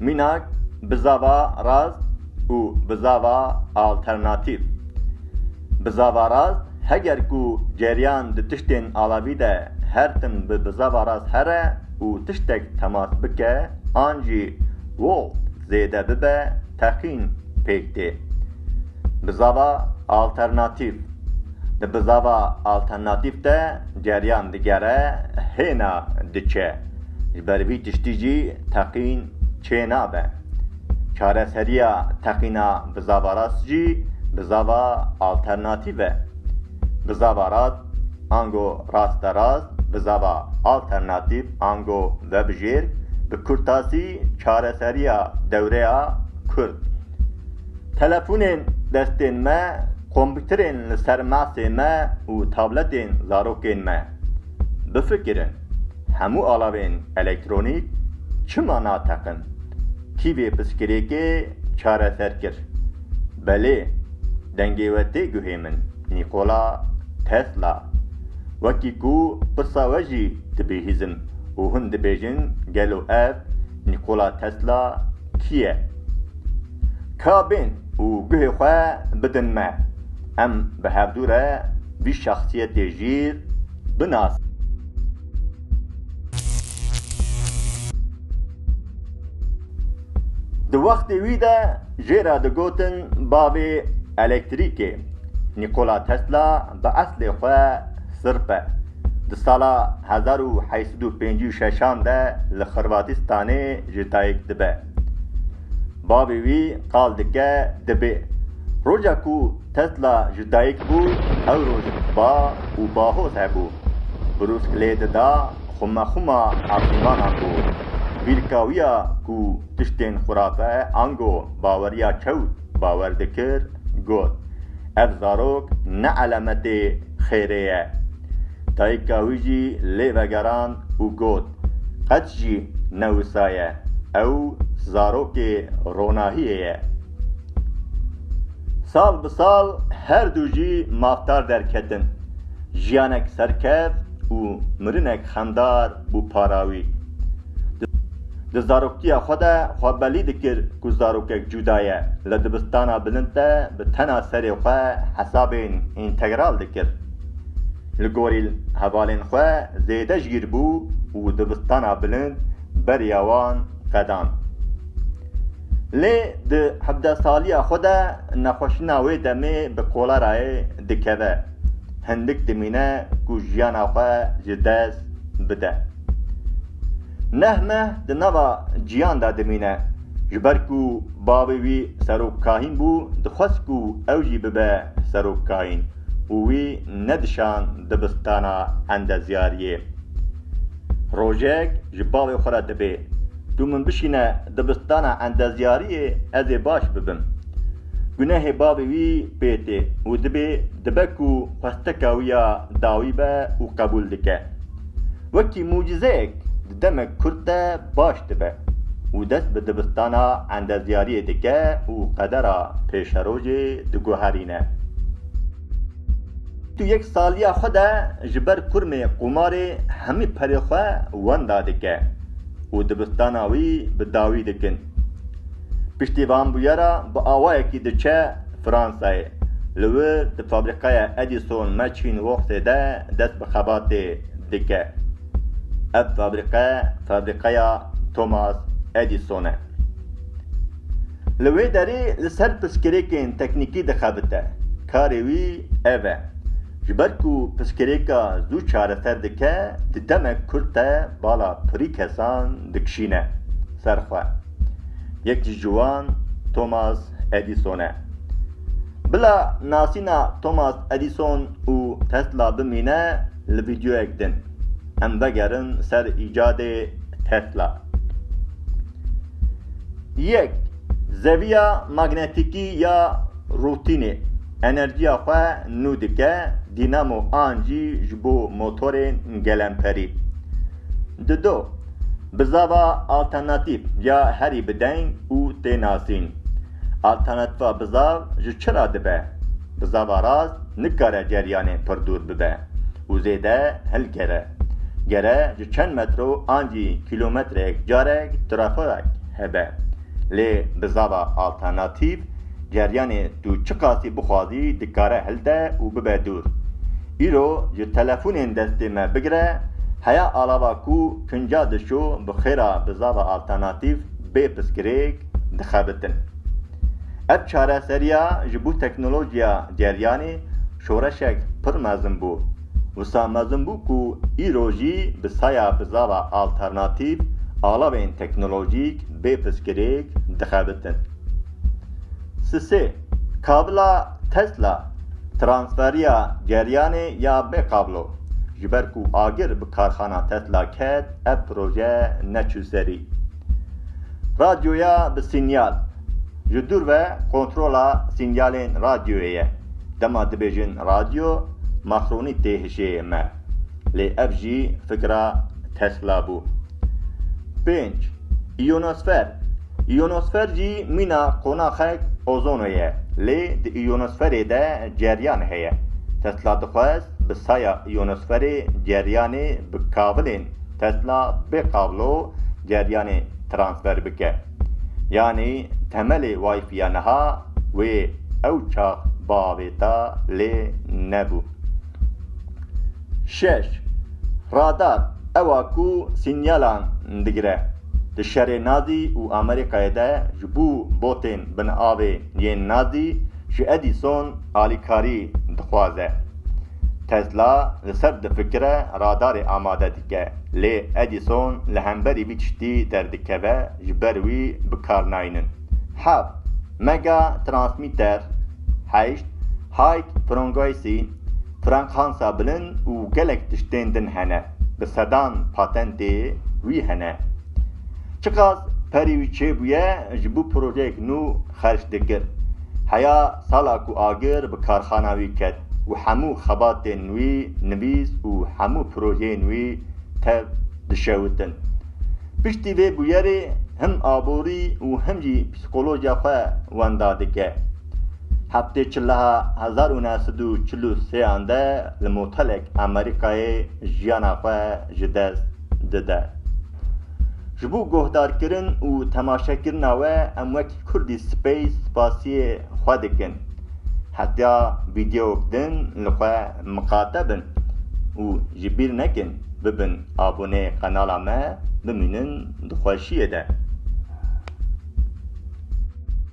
Mînak bizava rast û bizava alternatîf. Bizava rast heger ku ceryan di tiştên alavî de her tim bi bizava rast here û tiştek temas bike an jî volt zêde bibe teqîn pêk tê. Bizava alternatîf. Di bizava alternatîf de ceryan digere hêna diçe. Ji ber vî tiştî jî teqîn çê nabe. Çareseriya teqîna bizava rast jî bizava alternatîf e. Bizava rast ango raste rast, bizava alternatîf ango vebijêr bi kurtasî çareseriya dewreya kurd. Telefonên destên me, kompîterên li ser masê me û tabletên zarokên me. Bifikirin. Hemû alavên elektronîk çima nateqin? Kî vê piskirêkê çareser kir? Belê, dengê we tê guhê min, Nîkola Tesla. Wekî ku pirsa we jî dibihîzim û hûn dibêjin gelo ev Nîkola Tesla kî ye? Ka bên û guhê xwe bidin me, em bi hevdû re vî şexsiyetê jîr binas. Di wextê wî de jê re digotin bavê elektrîkê. Nîkola Tesla bi eslê xwe sirp e. Di sala hezar û heşt sed û pêncî û şeşan de li Xirvatistanê ji dayik dibe. Bavê wî qal dike dibê. Roja ku Tesla ji dayik bû ew roj ba û bahoz hebû. Brûsk lê dida xumexuma asîmanan bo. Vîrka wî ya ku tiştên xurafe ango baweriya çewt bawer dikir, got, Ev zarok ne elemetê xêrê ye. Dayika wî jî lê vegerand û got, qet jî ne wisa ye, ew zarokê ronahiyê ye. Sal bi sal her du jî mafdar derketin. Jiyanek serkev û mirinek xemdar bû para wî. Di zaroktiya xwe de xwe belî dikir ku zarokek cuda ye, li dibistana bilind de bi tena serê xwe hesabên întegral dikir. Li gorî hevalên xwe zêde jîr bû û dibistana bilind beriya wan qedand. Lê di hevdeh saliya xwe de nexweşîna wê demê bi kolerayê dikeve. Hindik dimîne ku jiyana xwe ji dest bide. Neh meh di nava ciyan de dimîne. Ji ber ku bavê wî serokkahîn bû, dixwest ku ew jî bibe serokkahîn. û wî nedişand dibistana endezyariyê. Rojek ji bavê xwe re dibê, Tu min bişîne dibistana endezyariyê ez ê baş bibim. Gunehê bavê wî pê tê û dibê dibe ku xwesteka wî ya dawî be û qebûl dike. Wekî mucîzeyek di demek kurd de baş dibe û dest bi dibistana endezyariyê dike û qedera pêşerojê diguherîne. Di yek saliya xwe de ji ber kurmê qumarê hemî perê xwe wenda dike û dibistana wî bi dawî dikin. Piştî van bûyera bi awayekî diçe Fransayê. Li wir di fabrîkaya Edison Machine Worksê de dest bi xebatê dike. Ev fabrîqe fabrîqeya Thomas Edison e. Li wê derê li ser pirsgirêkên teknîkî dixebite. Karê wî ev e. Ji ber ku pirsgirêka zû çareser dike, di demek kurt de bala pirî kesan dikişîne ser xwe. Yek ji wan Thomas Edison e. Bila nasîna Thomas Edison û Tesla bimîne li vîdyoyek din. Em vegerin ser îcadê Tesla. Yek, Zeviya magnetîkî ya rûtînê enerjiya xwe nû dike, dînamo an jî ji bo motorên gelemperî. Di do, Bi zava alternatîf ya herî bi deng û tê nasîn. Alternatîfa bi zav ji çi re dibe? Bi zava rast nikare ceryanê pir dûr bibe û zêde hilgere. Gere ji çend metro an jî kîlometrek carek trafiqek hebe. Lê bi zava alternatîf Ceryanê tu çiqasî bixwazî dikare hilde û bibe dûr. Îro ji telefonên destê me bigire heya alava ku kinca dişo bi xêra bi zava alternatîf bê piskirêk dixebitin. Ev çareseriya ji bo teknolojiya ceryanê şoreşek pir mezin bû. Wisa mezin bû ku îro jî bi saya bi zava alternatîf alavên teknolojîk bê piskirêk dixebitin. Sisê, kabla Tesla, transferiya geryanê ya bê kablo. Ji ber ku agir bi karxana Tesla ket, ev proje neçû serî. Radyoya bi sînyal, ji dûr ve kontrola sînyalên radyoyê ye. Dema dibêjin radyo, maxronî tê hişê me. Lê ev jî fikra Tesla bû. Pênc, iyonosfer, Îyonosfer jî mîna qonaxek ozono ye, lê di îyonosferê de ceryan heye. Tesla dixwest bi saya îyonosferê ceryanê bi kavilên Tesla bê kablo ceryanê transfer bike. Yanî temelê Wi-Fiya niha wê ew çax biavêta lê nebû. Şeş, Radar, ew a ku sînyalan digire. Di şerê Nadî û Amerîkayê de ji bo botên bin avê yên Nadî ji Edîson alîkarî dixwaze. Tesla li ser difikire radarê amade dike lê Edîson li hemberî vî tiştî derdikeve ji ber wî bi kar naynin. Heft, Mega Transmitter Heşt, High Frongoisy, frankansa bilin û gelek tiştên din hene. Bi sedan patentê wî hene. Çiqas perê wî çêbûye ji bo projeyek nû xerç dikir. Heya sala ku agir bi karxana wî ket û hemû xebatên wî nivîs û hemû projeyên wî tev dişewitin. Piştî vê bûyerê him aborî û him jî psîkolojiya xwe wenda dike. Heftê çiliha hezar û neh sed û çil û sêyan de li motelek Amerîkayê jiyana xwe ji dest dide. Ji bo guhdarkirin û temaşekirina we em wekî Kurdî Space spasiyê xwe dikin. Hetiya vîdyewk din li xwe miqate bin û ji bîr nekin bibin abonê qenala me bimînin di xweşiyê de.